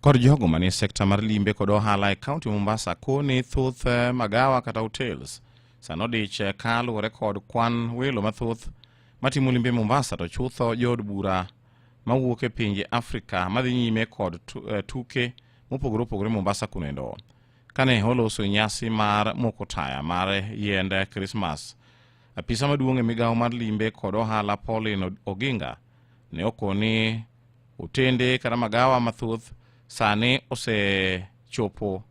Kod jogo manie sekta mar limbe kod ohala e kaunti Mombasa koni thoth eh, magawa kata hotels sano dich eh, ka luwore kod kwan welo mathoth matimo limbe Mombasa to chutho jood bura mawuok e pinje Afrika madhi nyime kod eh, tuke mopogore opogore Mombasa kunendo kane oloso nyasi mar moko taya mar yiend Krismas. Apisa maduong' e migawo mar limbe kod ohala Pauline Oginga ne okowo ni otende kata magawa mathoth sani osechopo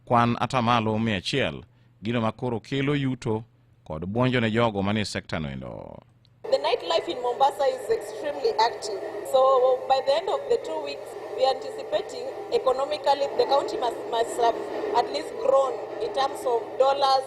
kwan atamalo mia achiel gino ma koro kelo yuto kod bwonjo ne jogo manie sekta noendo. The nightlife in Mombasa is extremely active. So by the end of the two weeks, we are anticipating economically the county must, must have at least grown in terms of dollars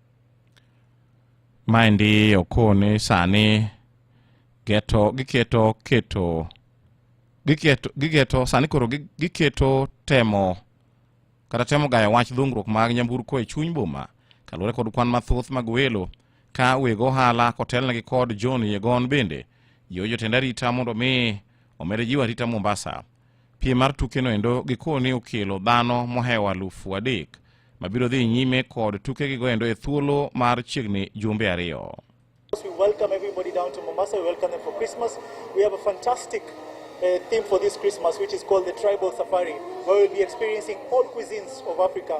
Maendi okone sani geto giketo keto giketo gigeto sani koro giketo temo kata temo gayo wach dhungruok mag nyamburko e chuny boma kaluwore kod kwan mathoth mag welo ka weg ohala kotelnegi kod John Yegon bende jiwo jotend arita mondo mi omed jiwo arita Mombasa. Piem mar tukeno endo gikoni okelo dhano mohewo alufu adek mabiro dhi nyime kod tukegigo endo e thuolo mar chiegni jumbe ariyo. We welcome everybody down to Mombasa. We welcome them for Christmas. We have a fantastic uh, theme for this Christmas, which is called the Tribal Safari, where we'll be experiencing all cuisines of Africa.